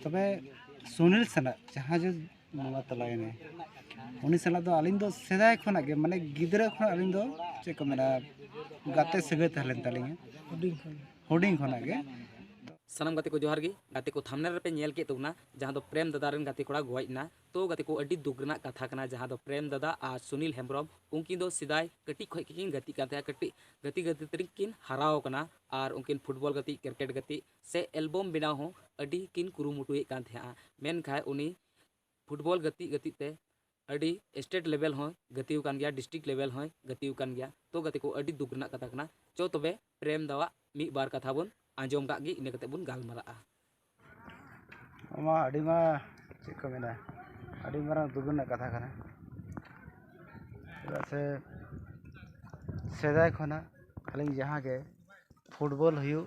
ᱛᱚᱵᱮ ᱥᱩᱱᱤᱞ ᱥᱟᱞᱟᱜ ᱡᱟᱦᱟᱸᱭ ᱡᱮ ᱵᱚᱸᱜᱟ ᱛᱟᱞᱟᱭᱮᱱᱟᱭ ᱩᱱᱤ ᱥᱟᱞᱟᱜ ᱫᱚ ᱟᱹᱞᱤᱧ ᱫᱚ ᱥᱮᱫᱟᱭ ᱠᱷᱚᱱᱟᱜ ᱜᱮ ᱢᱟᱱᱮ ᱜᱤᱫᱽᱨᱟᱹ ᱠᱷᱚᱱᱟᱜ ᱟᱹᱞᱤᱧ ᱫᱚ ᱪᱮᱫ ᱠᱚ ᱢᱮᱱᱟ ᱜᱟᱛᱮ ᱥᱟᱹᱜᱟᱹᱭ ᱛᱟᱦᱮᱸ ᱞᱮᱱ ᱛᱟᱹᱞᱤᱧᱟ ᱦᱩᱰᱤᱧ ᱠᱷᱚᱱᱟᱜ ᱜᱮ ᱥᱟᱱᱟᱢ ᱜᱟᱛᱮ ᱠᱚ ᱡᱚᱦᱟᱨ ᱜᱮ ᱜᱟᱛᱮ ᱠᱚ ᱛᱷᱟᱢᱱᱮᱞ ᱨᱮᱯᱮ ᱧᱮᱞ ᱠᱮᱫ ᱛᱟᱵᱚᱱᱟ ᱡᱟᱦᱟᱸ ᱫᱚ ᱯᱨᱮᱢ ᱫᱟᱫᱟ ᱨᱮᱱ ᱜᱟᱛᱮ ᱠᱚᱲᱟ ᱜᱚᱡ ᱮᱱᱟ ᱛᱚ ᱜᱟᱛᱮ ᱠᱚ ᱟᱹᱰᱤ ᱫᱩᱠ ᱨᱮᱱᱟᱜ ᱠᱟᱛᱷᱟ ᱠᱟᱱᱟ ᱡᱟᱦᱟᱸ ᱫᱚ ᱯᱨᱮᱢ ᱫᱟᱫᱟ ᱟᱨ ᱥᱩᱱᱤᱞ ᱦᱮᱢᱵᱨᱚᱢ ᱩᱱᱠᱤᱱ ᱫᱚ ᱥᱮᱫᱟᱭ ᱠᱟᱹᱴᱤᱡ ᱠᱷᱚᱱ ᱜᱮᱠᱤᱱ ᱜᱟᱛᱮᱜ ᱠᱟᱱ ᱛᱟᱦᱮᱸᱫ ᱠᱟᱹᱴᱤᱡ ᱜᱟᱛᱮ ᱜᱟᱛᱮ ᱛᱮᱜᱮ ᱠᱤᱱ ᱦᱟᱨᱟᱣ ᱟᱠᱟᱱᱟ ᱟᱨ ᱩᱱᱠᱤᱱ ᱯᱷᱩᱴᱵᱚᱞ ᱜᱟᱛᱮᱜ ᱠᱨᱤᱠᱮᱴ ᱜᱟᱛᱮᱜ ᱥᱮ ᱮᱞᱵᱚᱢ ᱵᱮᱱᱟᱣ ᱦᱚᱸ ᱟᱹᱰᱤ ᱠᱤᱱ ᱠᱩᱨᱩᱢᱩᱴᱩᱭᱮᱫ ᱠᱟᱱ ᱛᱟᱦᱮᱸᱫᱼᱟ ᱢᱮᱱᱠᱷᱟᱱ ᱩᱱᱤ ᱯᱷᱩᱴᱵᱚᱞ ᱜᱟᱛᱮᱜ ᱜᱟᱛᱮᱜ ᱛᱮ ᱟᱹᱰᱤ ᱥᱴᱮᱴ ᱞᱮᱵᱮᱞ ᱦᱚᱸᱭ ᱜᱟᱛᱮ ᱟᱠᱟᱱ ᱜᱮᱭᱟ ᱰᱤᱥᱴᱤᱠ ᱞᱮᱵᱮᱞ ᱦᱚᱸᱭ ᱜᱟᱛᱮ ᱟᱠᱟᱱ ᱜᱮᱭᱟ ᱛᱚ ᱜᱟᱛᱮ ᱠᱚ ᱟᱹᱰᱤ ᱫᱩᱠ ᱨᱮᱱᱟᱜ ᱠᱟᱛᱷᱟ ᱠᱟᱱᱟ ᱪᱚ ᱛᱚᱵᱮ ᱯᱨᱮᱢ ᱫᱟ ᱟᱜ ᱢᱤᱫ ᱵᱟᱨ ᱠᱟᱛᱷᱟ ᱵᱚᱱ ᱟᱸᱡᱚᱢ ᱠᱟᱜ ᱜᱮ ᱤᱱᱟᱹ ᱠᱟᱛᱮᱫ ᱵᱚᱱ ᱜᱟᱞᱢᱟᱨᱟᱜᱼᱟ ᱚᱱᱟ ᱟᱹᱰᱤ ᱢᱟ ᱪᱮᱫ ᱠᱚ ᱢᱮᱱᱟ ᱟᱹᱰᱤ ᱢᱟᱨᱟᱝ ᱫᱩᱠ ᱨᱮᱱᱟᱜ ᱠᱟᱛᱷᱟ ᱠᱟᱱᱟ ᱪᱮᱫᱟᱜ ᱥᱮ ᱥᱮᱫᱟᱭ ᱠᱷᱚᱱᱟᱜ ᱟᱹᱞᱤᱧ ᱡᱟᱦᱟᱸ ᱜᱮ ᱯᱷᱩᱴᱵᱚᱞ ᱦᱩᱭᱩᱜ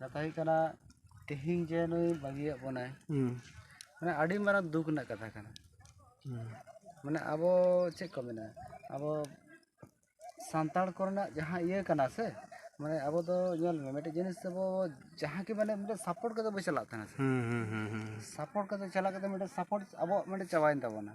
ᱠᱟᱛᱷᱟ ᱦᱩᱭᱩᱜ ᱠᱟᱱᱟ ᱛᱮᱦᱮᱧ ᱡᱮ ᱱᱩᱭ ᱵᱟᱹᱜᱤᱭᱟᱜ ᱵᱚᱱᱟᱭ ᱢᱟᱱᱮ ᱟᱹᱰᱤ ᱢᱟᱨᱟᱝ ᱫᱩᱠ ᱨᱮᱱᱟᱜ ᱠᱟᱛᱷᱟ ᱠᱟᱱᱟ ᱢᱟᱱᱮ ᱟᱵᱚ ᱪᱮᱫ ᱠᱚ ᱢᱮᱱᱟ ᱟᱵᱚ ᱥᱟᱱᱛᱟᱲ ᱠᱚᱨᱮᱱᱟᱜ ᱡᱟᱦᱟᱸ ᱤᱭᱟᱹ ᱠᱟᱱᱟ ᱥᱮ ᱢᱟᱱᱮ ᱟᱵᱚ ᱫᱚ ᱧᱮᱞ ᱢᱮ ᱢᱤᱫᱴᱮᱱ ᱡᱤᱱᱤᱥ ᱟᱵᱚ ᱡᱟᱦᱟᱸ ᱜᱮ ᱢᱟᱱᱮ ᱢᱤᱫᱴᱮᱱ ᱥᱟᱯᱳᱨᱴ ᱠᱟᱛᱮᱫ ᱵᱚᱱ ᱪᱟᱞᱟᱜ ᱛᱟᱦᱮᱱᱟ ᱥᱟᱯᱳᱨᱴ ᱠᱟᱛᱮᱫ ᱪᱟᱞᱟᱣ ᱠᱟᱛᱮᱫ ᱢᱤᱫᱴᱮᱱ ᱥᱟᱯᱳᱨᱴ ᱟᱵᱚᱣᱟᱜ ᱢᱤᱫᱴᱮᱱ ᱪᱟᱵᱟᱭᱮᱱ ᱛᱟᱵᱚᱱᱟ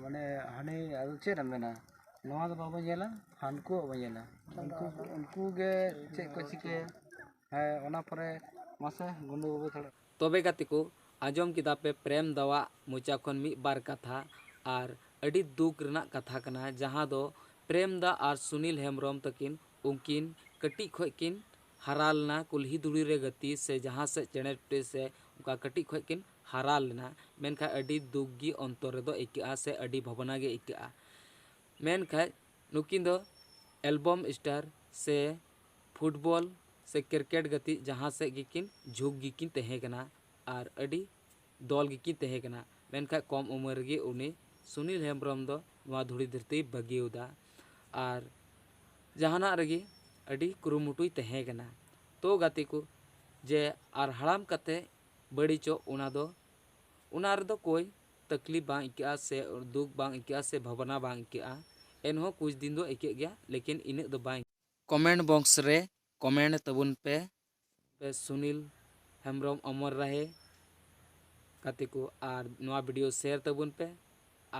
ᱢᱟᱱᱮ ᱦᱟᱱᱮ ᱟᱫᱚ ᱪᱮᱫ ᱮᱢ ᱢᱮᱱᱟ ᱱᱚᱣᱟ ᱫᱚ ᱵᱟᱵᱚ ᱧᱮᱞᱟ ᱦᱟᱱᱠᱩᱣᱟᱜ ᱵᱚ ᱧᱮᱞᱟ ᱩᱱᱠᱩ ᱩᱱᱠᱩ ᱜᱮ ᱪᱮᱫ ᱠᱚ ᱪᱤᱠᱟᱹᱭᱟ ᱦᱮᱸ ᱚᱱᱟ ᱯᱚᱨᱮ ᱢᱟᱥᱮ ᱜᱩᱰᱩ ᱵᱟᱹᱵᱩ ᱛᱷᱚᱲᱟ ᱛᱚᱵᱮ ᱜᱟᱛᱮ ᱠᱚ, ᱟᱸᱡᱚᱢ ᱠᱮᱫᱟ ᱯᱮ ᱯᱨᱮᱢ ᱫᱟ ᱣᱟᱜ ᱢᱚᱪᱟ ᱠᱷᱚᱱ ᱢᱤᱫ ᱵᱟᱨ ᱠᱟᱛᱷᱟ ᱟᱨ ᱟᱹᱰᱤ ᱫᱩᱠ ᱨᱮᱱᱟᱜ ᱠᱟᱛᱷᱟ ᱠᱟᱱᱟ ᱡᱟᱦᱟᱸ ᱫᱚ ᱯᱨᱮᱢ ᱫᱟ ᱟᱨ ᱥᱩᱱᱤᱞ ᱦᱮᱢᱵᱽᱨᱚᱢ ᱛᱟᱹᱠᱤᱱ ᱩᱱᱠᱤᱱ ᱠᱟᱹᱴᱤᱡ ᱠᱷᱚᱡ ᱠᱤᱱ ᱦᱟᱨᱟ ᱞᱮᱱᱟ ᱠᱩᱞᱦᱤ ᱫᱷᱩᱲᱤ ᱨᱮ ᱜᱟᱛᱮ ᱥᱮ ᱡᱟᱦᱟᱸ ᱥᱮᱫ ᱪᱮᱬᱮ ᱴᱩᱴᱤ ᱥᱮ ᱚᱱᱠᱟ ᱠᱟᱹᱴᱤᱡ ᱠᱷᱚᱡ ᱠᱤᱱ ᱦᱟᱨᱟ ᱞᱮᱱᱟ ᱢᱮᱱᱠᱷᱟᱡ ᱟᱹᱰᱤ ᱫᱩᱠ ᱜᱮ ᱚᱱᱛᱚᱨ ᱨᱮᱫᱚ ᱟᱹᱭᱠᱟᱹᱜᱼᱟ ᱥᱮ ᱟᱹᱰᱤ ᱵᱷᱟᱵᱽᱱᱟ ᱜᱮ ᱟᱹᱭᱠᱟᱹᱜᱼᱟ ᱢᱮᱱᱠᱷᱟᱡ ᱱᱩᱠᱤᱱ ᱫᱚ ᱮᱞᱵᱚᱢ ᱥᱴᱟᱨ ᱥᱮ ᱯᱷᱩᱴᱵᱚᱞ ᱥᱮ ᱠᱨᱤᱠᱮᱴ ᱜᱟᱛᱮᱜ ᱡᱟᱦᱟᱸ ᱥᱮᱡ ᱜᱮᱠᱤᱱ ᱡᱷᱩᱸᱠ ᱜᱮᱠᱤᱱ ᱛᱟᱦᱮᱸ ᱠᱟᱱᱟ ᱟᱨ ᱟᱹᱰᱤ ᱫᱚᱞ ᱜᱮᱠᱤᱱ ᱛᱟᱦᱮᱸ ᱠᱟᱱᱟ ᱢᱮᱱᱠᱷᱟᱡ ᱠᱚᱢ ᱩᱢᱮᱨ ᱨᱮᱜᱮ ᱩᱱᱤ ᱥᱩᱱᱤᱞ ᱦᱮᱢᱵᱨᱚᱢ ᱫᱚ ᱱᱚᱣᱟ ᱫᱷᱩᱲᱤ ᱫᱷᱟᱹᱨᱛᱤᱭ ᱵᱟᱹᱜᱤᱭᱟᱫᱟ ᱟᱨ ᱡᱟᱦᱟᱱᱟᱜ ᱨᱮᱜᱮ ᱟᱹᱰᱤ ᱠᱩᱨᱩᱢᱩᱴᱩᱭ ᱛᱟᱦᱮᱸ ᱠᱟᱱᱟ ᱛᱚ ᱜᱟᱛᱮ ᱠᱚ ᱡᱮ ᱟᱨ ᱦᱟᱲᱟᱢ ᱠᱟᱛᱮ ᱵᱟᱹᱲᱤᱡᱚᱜ ᱚᱱᱟ ᱫᱚ ᱚᱱᱟ ᱨᱮᱫᱚ ᱠᱳᱭ ᱛᱟᱠᱞᱤᱯ ᱵᱟᱝ ᱟᱹᱭᱠᱟᱹᱜᱼᱟ ᱥᱮ ᱫᱩᱠ ᱵᱟᱝ ᱟᱹᱭᱠᱟᱹᱜᱼᱟ ᱥᱮ ᱵᱷᱟᱵᱽᱱᱟ ᱵᱟᱝ ᱟᱹᱭᱠᱟᱹᱜᱼᱟ ᱮᱱᱦᱚᱸ ᱠᱩᱪ ᱫᱤᱱ ᱫᱚ ᱟᱹᱭᱠᱟᱹᱜ ᱜᱮᱭᱟ ᱞᱮᱠᱤᱱ ᱤᱱᱟᱹᱜ ᱫᱚ ᱵᱟᱝ ᱠᱚᱢᱮᱱᱴ ᱵᱚᱠᱥ ᱨᱮ ᱠᱚᱢᱮᱱᱴ ᱛᱟᱵᱚᱱ ᱯᱮ᱾ ᱯᱮ ᱥᱩᱱᱤᱞ ᱦᱮᱢᱵᱨᱚᱢ ᱚᱢᱚᱨ ᱨᱟᱦᱮ ᱜᱟᱛᱮ ᱠᱚ ᱟᱨ ᱱᱚᱣᱟ ᱵᱷᱤᱰᱤᱭᱳ ᱥᱮᱭᱟᱨ ᱛᱟᱵᱚᱱ ᱯᱮ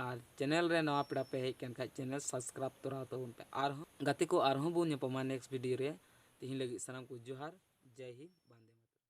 ᱟᱨ ᱪᱮᱱᱮᱞ ᱨᱮ ᱱᱟᱣᱟ ᱯᱮᱲᱟ ᱯᱮ ᱦᱮᱡ ᱠᱟᱱ ᱠᱷᱟᱡ ᱪᱮᱱᱮᱞ ᱥᱟᱵᱥᱠᱨᱟᱵ ᱛᱚᱨᱟᱣ ᱛᱟᱵᱚᱱ ᱯᱮ ᱟᱨᱦᱚᱸ ᱜᱟᱛᱮ ᱠᱚ ᱟᱨᱦᱚᱸ ᱵᱚᱱ ᱧᱟᱯᱟᱢᱟ ᱱᱮᱠᱥᱴ ᱵᱷᱤᱰᱤᱭᱳ ᱨᱮ ᱛᱤᱦᱤᱧ ᱞᱟᱹᱜᱤᱫ ᱥᱟᱱᱟᱢ ᱠᱚ ᱡᱚᱦᱟᱨ ᱡᱟᱭ ᱦᱤᱱᱫ ᱵᱟᱱᱫᱮ ᱢᱟᱛᱚᱨᱚᱢ᱾